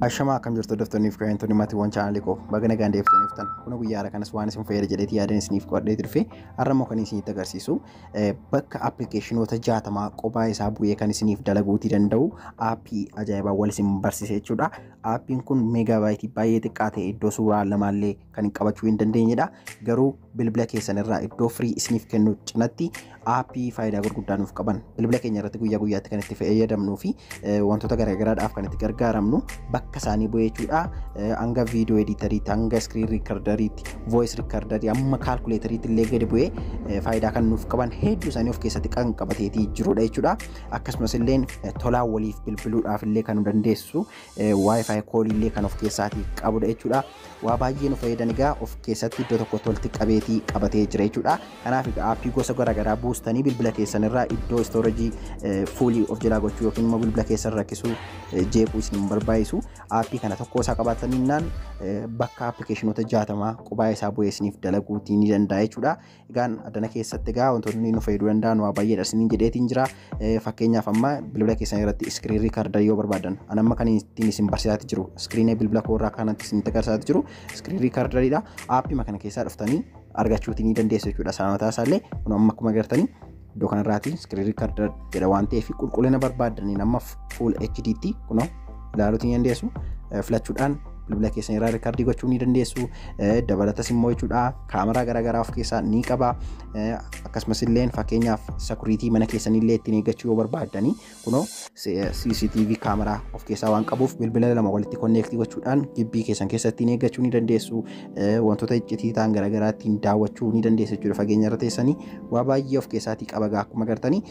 Ashamaa akkam jirtu hordoftoonni fi kabajamtoonni maatiiwwan chaanaalii koo baga nagaan deebitanii dhuftan kun guyyaa har'a kanas waan isin fayyada jedheeti yaadeen isiniif qo'adhee turfe har'a immoo kan isinitti agarsiisu bakka appilikeeshinoota jaatamaa qophaa isaa bu'ee kan isiniif dalaguutii danda'u aappii ajaa'ibaa wal isin barsiise jechuudha aappiin kun meegaabaayitii baay'ee xiqqaa ta'e iddoo suuraa lamaallee kan hin qabachuu hin dandeenyedha. Garuu bilbila keessan irraa iddoo firii isiniif kennu cinatti aappii faayidaa gurguddaa nuuf qaban bilbila keenya irratti guyyaa guyyaatti kan itti fayyadamnuu fi wantoota garaagaraadhaaf kan itti gargaaramnu bakka isaanii bu'ee jechuudha. Hanga viidiyoo ediitariitti, hanga iskiriin riikardariitti, vooyis riikardarii, amma kaalkuleetariitti illee gadi bu'ee faayidaa kan nuuf qaban hedduu isaanii of keessatti kan qabateetii jirudha jechuudha. Akkasumas illee tolaan waliif bilbiluudhaaf illee kan nu dandeessisu Wi-Fi koolii illee kan of keessaatii qabudha jechuudha. Waa baay'ee nu fayyadan egaa of keessatti iddoo tokkotti walitti qabeetii qabatee jira jechuudha. Kanaaf egaa aappii gosa garaagaraa buustanii bilbila keessan irraa iddoo istoorejii fuulii of jalaa gochuu yookiin immoo bilbila keessan rakkisuu jeequu isin hin barbaachisu. Aappii kana tokkoo isaa qabaataninnaan bakka appilikeeshinoota jaatamaa qubaa isaa bu'ee isiniif dalaguutii ni danda'a jechuudha. Egaan addana keessatti egaa wantoonni nu fayyaduu danda'an waa baay'eedha isiniin jedheetiin jira. Fakkeenyaaf amma bilbila keessan irratti iskiriin riikardarii yoo barbaadan an amma kan ittiin isin barsiisaati jiru iskiriinee bilbila koo irraa kanatti isin agarsiisaati jiru iskiriin riikardariidha. Aappima kana keessaa dhuftanii argachuutii ni dandeessu jechuudha. Saamataa isaallee kun amma akkuma agartanii iddoo kanarraati screen recorder jedha waan ta'eef qulqullina barbaaddaniin amma full HD tti kunoo ilaaluutiin dandeessu filachuudhaan bilbila keessan irraa riikardii gochuu ni dandeessu dabalatas immoo jechuudha kaameraa garaagaraa of keessaa ni qaba akkasumas illee fakkeenyaaf sakuriitii mana keessanii illee ittiin eeggachuu yoo barbaaddanii Kunoo CCTV kaameraa of keessaa waan qabuuf bilbila lama walitti konneektii gochuudhaan gibbii keessan keessatti ni eeggachuu ni dandeessu. Wantoota iccitii ta'an garaagaraa ittiin daawwachuu ni dandeessu jechuudha fageenya irra teessanii. Waa baay'ee of keessaatii qaba gaa akkuma gartanii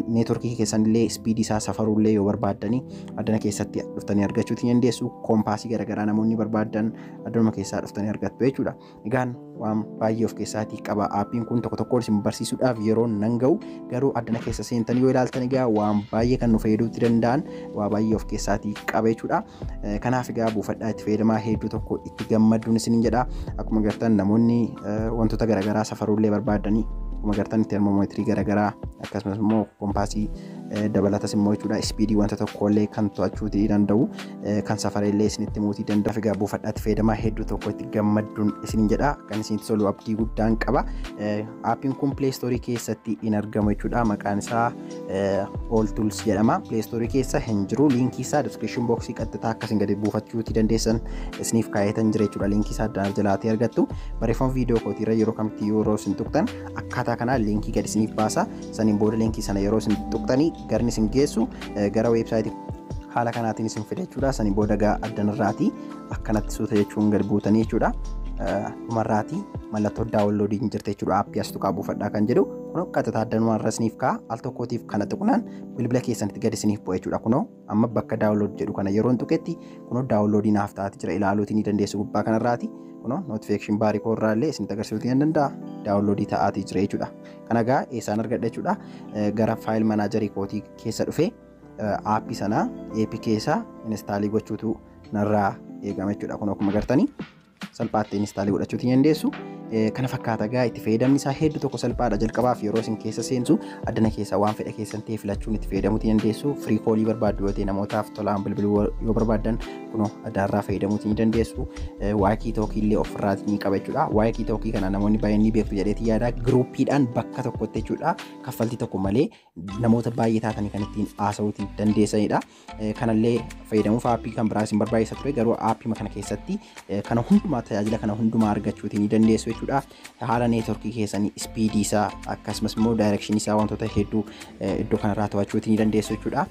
neetworkii keessan illee ispiidii isaa safaruu illee yoo barbaaddanii addana keessatti dhuftanii argachuu ni dandeessu. Koompaasii garaagaraa namoonni barbaadan addanuma keessaa dhuftanii argattu jechuudha. Egaan waan baay'ee of keessaatii qaba. Aappiin kun tokko tokkoon isin barsiisuudhaaf yeroon nan ga'u garuu addana keessa seentanii yoo ilaaltan egaa waan baay'ee kan nu fayyaduutti danda'an waa baay'ee of keessaatii qaba jechuudha. Kanaaf egaa buufadhaa itti fayyadamaa hedduu tokko itti gammadduun isinin jedha. Akkuma gartan namoonni wantoota garaagaraa safaruullee barbaadanii akkuma gartan termoomeetirii garaagaraa akkasumas immoo kompaasii dabalatas immoo jechuudha ispiidii wanta tokkollee kan to'achuuti danda'u. kan safara illee isinitti muutii danda'a. Egaa buufadhaatti fayyadamaa hedduu tokko itti gammadduun isiniin jedha. Kan isinitti tolu abdii guddaan qaba. Aappiin kun Play Store keessatti hin argamu jechuudha. Maqaan isaa All Tools jedhama. Play Store keessa hin jiru. Liinkii isaa description box qaxxataa akkasiin gadi buufachuuti dandeessan isiniif kaa'eetan jira jechuudha. Liinkii isaa addaan jalaatee argattu. Barreeffama viidiyoo kootiirra yeroo kamitti yeroo isin tuqxan akkaataa kanaa liinkii gadi isiniif baasa. Saniin booda liinkii sana yeroo isin tuqxanii garni isin geessu gara weebsaayitii haala kanaatiin isin fida jechuudha. Sanii booda gaa addanarraatii akkanatti suuta jechuun gad buutanii jechuudha. Dhumarraatii mallattoo daawunloodii hin jirte jechuudha. Aappii as tuqaa buufadhaa kan jedhu kunoo qaxataa addanuma irra isiniif ka'a. Al tokkootiif kana tuqnaan bilbila keessanitti gad isiniif bu'a jechuudha. Kunoo amma bakka daawunlood jedhu kana yeroon tuqetti kunoo daawunloodii naaf ta'aa jira ilaaluutii ni dandeessu gubbaa kanarraati. Kunoo notification baarii koo irraa illee isinitti agarsiisuutii ni danda'a. Daawunloodii ta'aatii jira jechuudha. Kana gaa eessaan argadha jechuudha. Gara faayil manaajarii kootii keessa dhufee aappii sanaa APK isaa inistaalii gochuutu narraa eegama jechuudha. Kun akkuma gartanii salphaatti inistaalii godhachuuti ni dandeessu. Kana fakkaata gaa itti fayyadamni isaa hedduu tokko salphaadha jalqabaaf yeroo isin keessa seentu addana keessa waan fedha keessan ta'e filachuun itti fayyadamuuti dandeessu. Firii koolii barbaaddu yoo ta'e namootaaf tolaan bilbiluu yoo barbaaddan kunoo adaarraa fayyadamuuti ni dandeessu waayikii tookii illee ofirraati ni qaba jechuudha waayikii tookii kana namoonni baay'een ni beektu jedheeti yaada giruupiidhaan bakka tokkotti jechuudha kaffaltii tokko malee namoota baay'ee taatanii kan ittiin haasa'uuti dandeessanidha kanallee fayyadamuuf aappii kan biraa isin barbaachisa ture garuu aappii kana keessatti kana hundumaa tajaajila kana hundumaa argachuuti ni dandeessu jechuudha haala neetworkii keessanii ispiidii isaa akkasumas immoo daayirekshinii isaa wantoota hedduu iddoo kanarraa to'achuuti ni dandeessu jechuudha.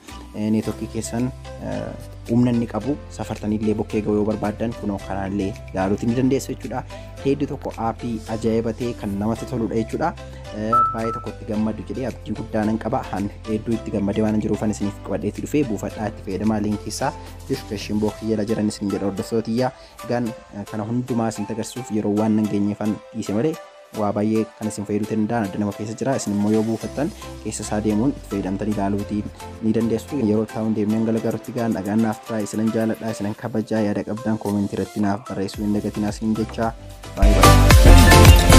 Neetworkii keessan humna inni qabu safartanii illee bokkee ga'uu yoo barbaaddan kunoo kanaan illee ilaaluuti ni dandeessu jechuudha. Hedduu tokko aappii ajaa'iba ta'e kan namatti toludha jechuudha. Baay'ee tokko itti gammadu jedhee abdii guddaa nan qaba. Han hedduu itti gammadee waan jiruuf ani isiniif qabadheetti dhufee buufadhaa itti fayyadamaa liinkii isaa diskiripshin bookii jala jiran isin jedha hordoftootiyyaa. Egaan kana hundumaa isin agarsiisuuf yeroo waan nan geenyeefan dhiise malee waa baay'ee kan isin fayyaduu ta'e danda'an adda nama keessa jira isin immoo yoo buufattan keessa isaa deemuun itti fayyadamtanii ilaaluutii ni dandeessu yeroo taa'uun deemneen galagarutti gaan nagaan naaf turaa isinan jaaladha isinan kabajaa yaada qabdan koomentii irratti naaf barreessuu hin dagatinaa siin jechaa baay'ee